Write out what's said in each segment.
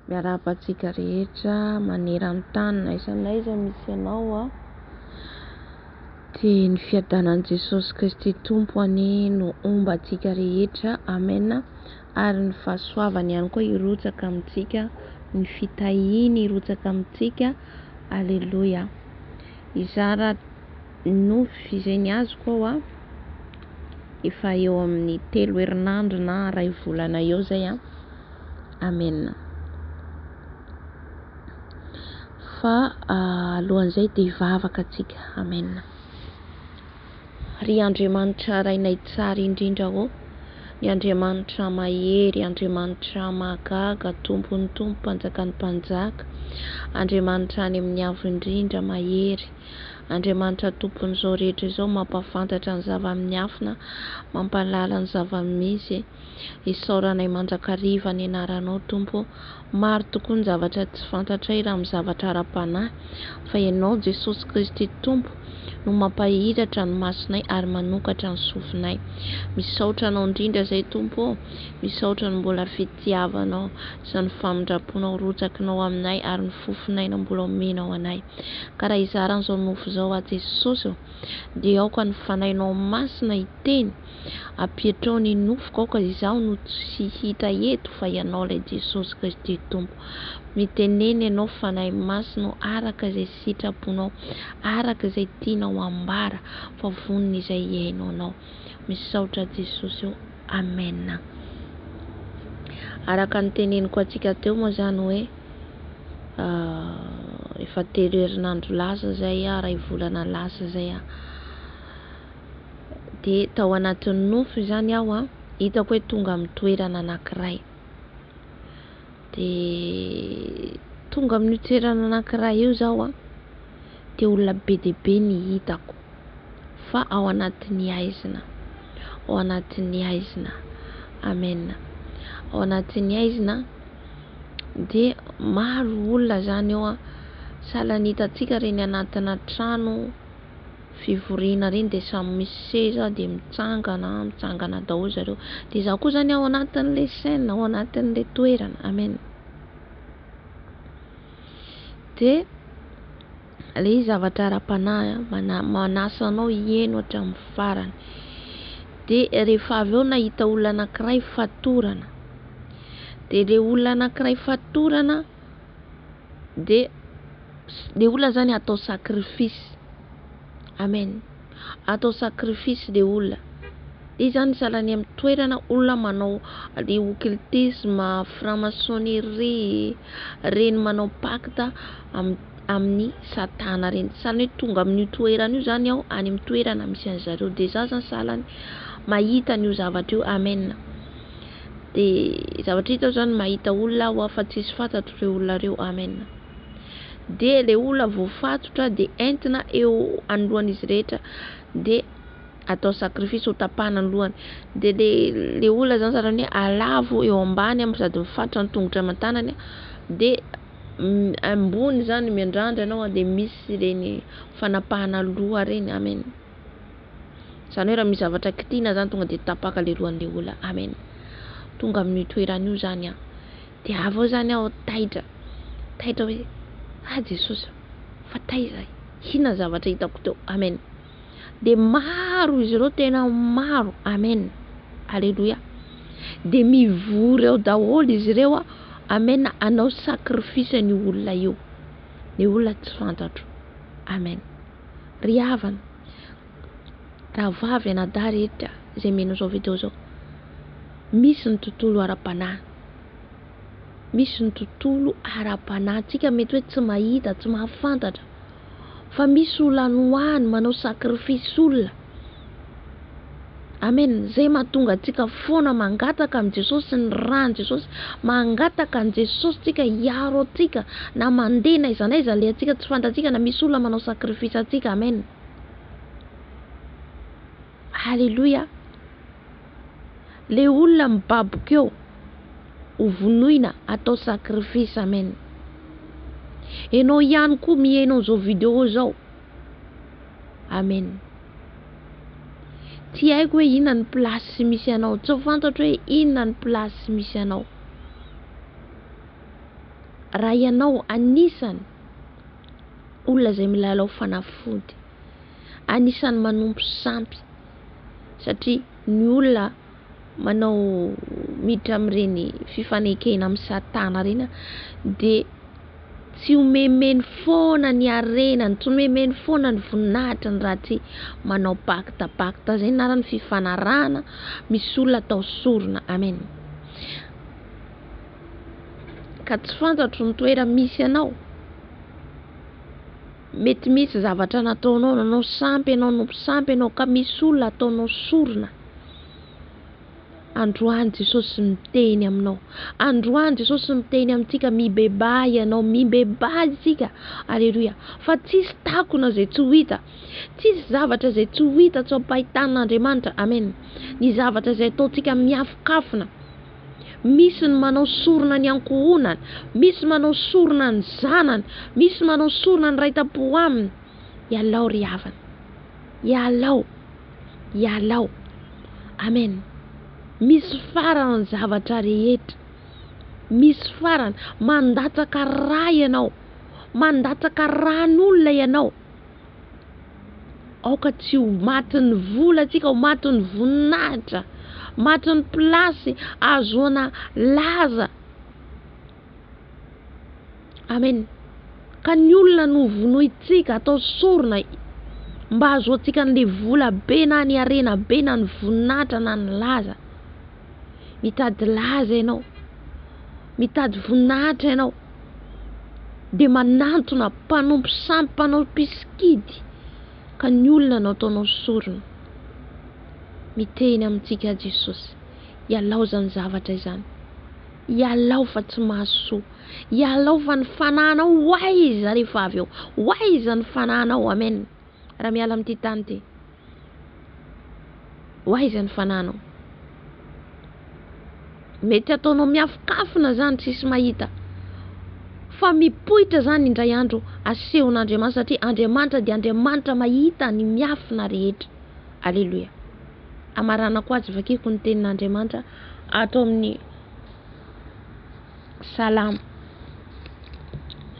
Miarahaba antsika rehetra maneran-tany na aiza na aiza misy anao a! Dia ny fiadanan'i Jesosy Kristy Tompo anie no homba antsika rehetra, amen, ary ny fahasoavany ihany koa hirotsaka amintsika, ny fitahiany hirotsaka amintsika, aleloia! Hizara. nofy izay ny azoko ao a, efa eo amin'ny telo herinandro na iray volana eo izay a, Amen. Fa alohan'izay dia hivavaka antsika, Amen. Ry Andriamanitra Rainay Tsara indrindra ô, ny Andriamanitra Mahery, Andriamanitra Mahagaga, Tompon'ny Tompo, Mpanjakan'ny Mpanjaka, Andriamanitra any amin'ny Avo indrindra, Mahery, Andriamanitra Tompon'izao rehetra izao mampahafantatra ny zava-miafina, mampahalala ny zava-misy. Isaoranay mandrakariva ny anaranao Tompo ô! Maro tokoa ny zavatra tsy fantatray raha amin'ny zavatra ara-panahy, fa Ianao Jesosy Kristy Tompo no mampahiratra ny masonay ary manokatra ny sofinay. Misaotra Anao indrindra izay Tompo ô! Misaotra ny mbola fitiavanao, izany famindram-ponao rotsakinao aminay ary ny fofon'aina mbola omenao anay. Ka raha hizara an'izao nofo izao aho Jesosy ô, dia aoka ny Fanahinao Masina hiteny, ampiatrao ny nofoko, aoka izaho no tsy hita eto fa Ianao ilay Jesosy Kristy Tompo. Mitenena Ianao Fanahy Masina ô, araka izay sitraponao, araka izay tianao hambara, fa vonon' izay iaino Anao. Misaotra Jesosy ô. Amen. Araka ny teneniko antsika teo moa zany hoe efa telo herinandro lasa zay iray volana lasa zay a de tao anatin'ny nofy zany aho a hitako hoe tonga amin'ny toerana anankiray Dia tonga amin'io toerana anankiray io zaho a, dia olona be dia be ny hitako fa ao anatin'ny haizina, ao anatin'ny haizina, Amen, ao anatin'ny haizina dia maro olona zany eo a, sahala ny hitantsika reny anatina trano. fivoriana ireny dia samy misy seza dia mitsangana mitsangana daholo zareo dia izaho koa izany ao anatin'ilay scène ao anatin'ilay toerana amen dia ilay zavatra ara-panahy mana, manasa anao hieno hatramin'ny farany dia rehefa avy eo nahita olona anankiray fatorana dia ilay olona anankiray fatorana dia le olona zany atao sacrifice amen atao sacrifice le olona de zany zala any amin'ny toerana olona manao le occultisme franc maçonnerie reny manao pacte am- amin'ny satana reny sahala ny hoe tonga amin'io toerana io zany aho any amin'ny toerana misy an'i zareo de za zany sahala ny mahita an'io zavatra io amen de zavatra hita aho zany mahita olona aho fa tsisy fantatro reo olona reo amen dia ilay olona voafatotra dia entina eo anoloan'izy rehetra dia atao sacrifice ho tapahana ny lohany dia le le olona zany zany hoe alavo eo ambany am sady mifatra ny tongotra aman-tanany de ambony zany miandrandra ianao de misy ireny fanapahana loha ireny amen zany hoe raha misy zavatra kitina zany tonga de tapaka le lohan'le olona amen tonga amin'io toerana io zany an Dia avy eo izany aho taitra, taitra hoe, Ah Jesosy a! fa taiza ahy? Inona ny zavatra hitako teo? Amen! Dia maro izy ireo, tena maro, amen! Aleloia! Dia mivory eo daholo izy ireo, amen, hanao sacrifice an'io olona io, ny olona tsy fantatro, amen! Ry havana, Rahavavy anadahy rehetra izay mihaino izao video izao, misy ny tontolo ara-panahy, misy ny tontolo ara-panahy tsika mety hoe tsy mahita, tsy mahafantatra fa misy olona nohany manao sacrifice olona Amen, izay mahatonga antsika foana mangataka amin'i Jesosy sy ny ran'i Jesosy, mangataka an'i Jesosy tsika hiaro antsika na mandeha na aiza na aiza alehantsika tsy fantatsika na misy olona manao sacrifice antsika Amen. Haleloia! Le olona mibaboka eo ho vonoina atao sacrifice amen. Enao ihany koa mihaino an'izao video zao. Amen. Tsy haiko hoe inona ny place misy anao, tsy fantatro hoe inona ny place misy anao. Raha ianao anisany olona izay milalao fanafody. Anisany manompo sampy satria ny olona manao miditra amin'ireny fifanekena amin'ny satana ireny dia tsy omemeny foana ny harenany, tsy omemeny foana ny voninahitrany raha tsy manao pacte, pacte izay ny anarany fifanarahana misy olona atao sorona, amen. ka tsy fantatro ny toerana misy anao, mety misy zavatra nataonao nanao sampy ianao no mpisampy ianao ka misy olona ataonao sorona, androany Jesosy miteny aminao, androany Jesosy miteny amintsika mibebaha ianao, mibebaha isika, aleloia, fa tsisy takona izay tsy ho hita, tsisy zavatra izay tsy ho hita tsy ampahitan'Andriamanitra, amen, ny zavatra izay ataontsika miafokafona. Misy ny manao sorona ny ankohonany, misy manao sorona ny zanany, misy manao sorona ny raitampo aminy. Ialao ry havana. Ialao. Ialao. Amen. Misy farany ny zavatra rehetra. Misy farany. Mandatsaka ra ianao. Mandatsaka ran'olona ianao. Aoka tsy ho matin'ny vola antsika, ho matin'ny voninahitra, matin'ny place ahazoana laza. Amen. Ka ny olona no vonointsika, atao sorona mba ahazoantsika an'le vola be na ny harena be na ny voninahitra na ny laza. mitady laza ianao, mitady voninahitra ianao dia manantona mpanompo sampy, mpanao mpisikidy ka ny olona no ataonao sorona. Miteny amintsika Jesosy, ialao izany zavatra izany, ialao fa tsy mahasoa, ialao fa ny fanahinao ho aiza rehefa avy eo, ho aiza ny fanahinao, amen. Raha miala amin'ity tany ity, ho aiza ny fananao? Mety ataonao miafokafona zany tsisy mahita fa mipoitra zany indray andro asehon'Andriamanitra satria Andriamanitra dia Andriamanitra mahita ny miafina rehetra. Aleloia. Amaranako atsy vakiko ny tenin'Andriamanitra ato amin'ny Salamo.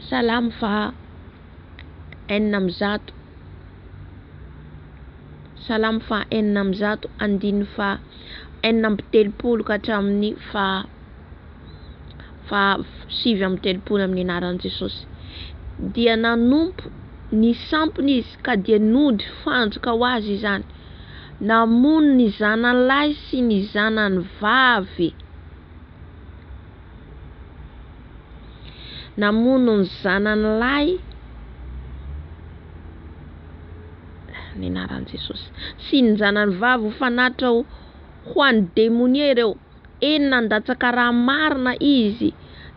Salamo fa enina amby zato. Salamo faha enina amby zato, andininy faha enina amby telopolo ka hatramin'ny faha faha sivy amby telopolo amin'ny anaran'i Jesosy. Dia nanompo ny sampiny izy ka dia nody fandrika ho azy izany. Namono ny zanany lahy sy ny zanany vavy. Namono ny zanany lahy ny anaran'i Jesosy. Sy ny zanany vavy ho fanatitra ho an'ny demonia ireo. Eny nandatsaka raha marina izy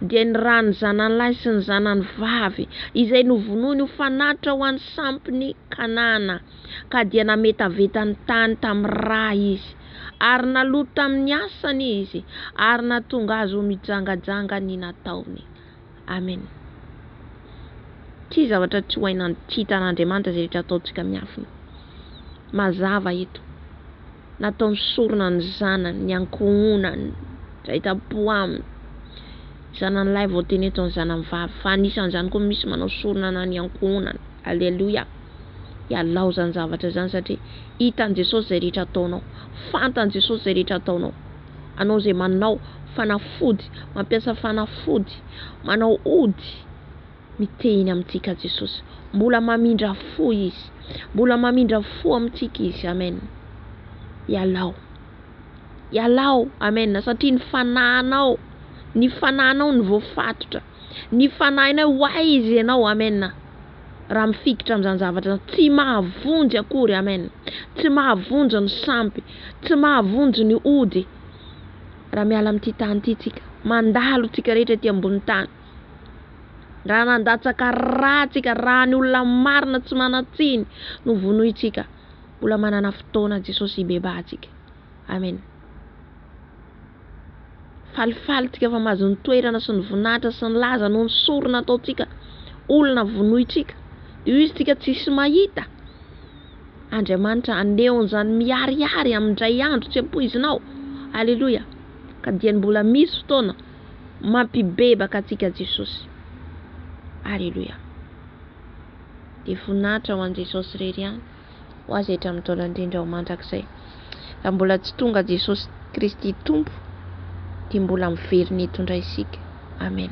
dia ny rany zanany lahy sy ny zanany vavy izay novonoiny ho fanatitra ho an'ny sampin'i Kanana ka dia nametaveta ny tany tamin'ny ra izy. Ary naloto tamin'ny asany izy, ary nahatonga azy ho mijangajanga ny nataony. Amen. Ity zavatra tsy ho hay nantitan'Andriamanitra izay rehetra ataontsika miafina. Mazava eto. Nataony sorona ny zanany, ny ankohonany, izay tampo aminy. Zananilahy vao teny eto ny zananivavy, fa anisan'izany koa misy manao sorona na ny ankohonany. Aleloia. Ialao izany zavatra izany satria hitan'i Jesosy izay rehetra ataonao. Fantan'i Jesosy izay rehetra ataonao. Anao izay manao fanafody, mampiasa fanafody, manao ody, miteny amintsika Jesosy. Mbola mamindra fo Izy. Mbola mamindra fo amintsika Izy. Amen. Ialao. Ialao. Amen. Satria ny fanahinao, ny fanahinao no voafatotra. Ny fanahinay ho Ahy Izy Ianao. Amen. Raha mifikitra amin'izany zavatra izany, tsy mahavonjy akory. Amen. Tsy mahavonjy ny sampy. Tsy mahavonjy ny ody. Raha miala amin'ity tany ity tsika, mandalo tsika rehetra ety ambony tany. Raha nandatsaka ra tsika, raha ny olona marina tsy manan-tsiny no vonointsika, mbola manana fotoana Jesosy hibebaha antsika. Amen Falifaly tsika fa mahazo ny toerana sy ny voninahitra sy ny laza noho ny sorona ataontsika olona vonointsika io izy tsika tsisy mahita Andriamanitra aneon'izany miharihary amin-dray andro tsy ampoizinao Aleloia ka dia ny mbola misy fotoana mampibebaka antsika Jesosy Aleloia Dia voninahitra ho an'i Jesosy irery ihany ho azy hatramin'ny taona indrindra ho mandrakizay. Raha mbola tsy tonga Jesosy Kristy Tompo dia mbola miverina eto indray isika. Amen.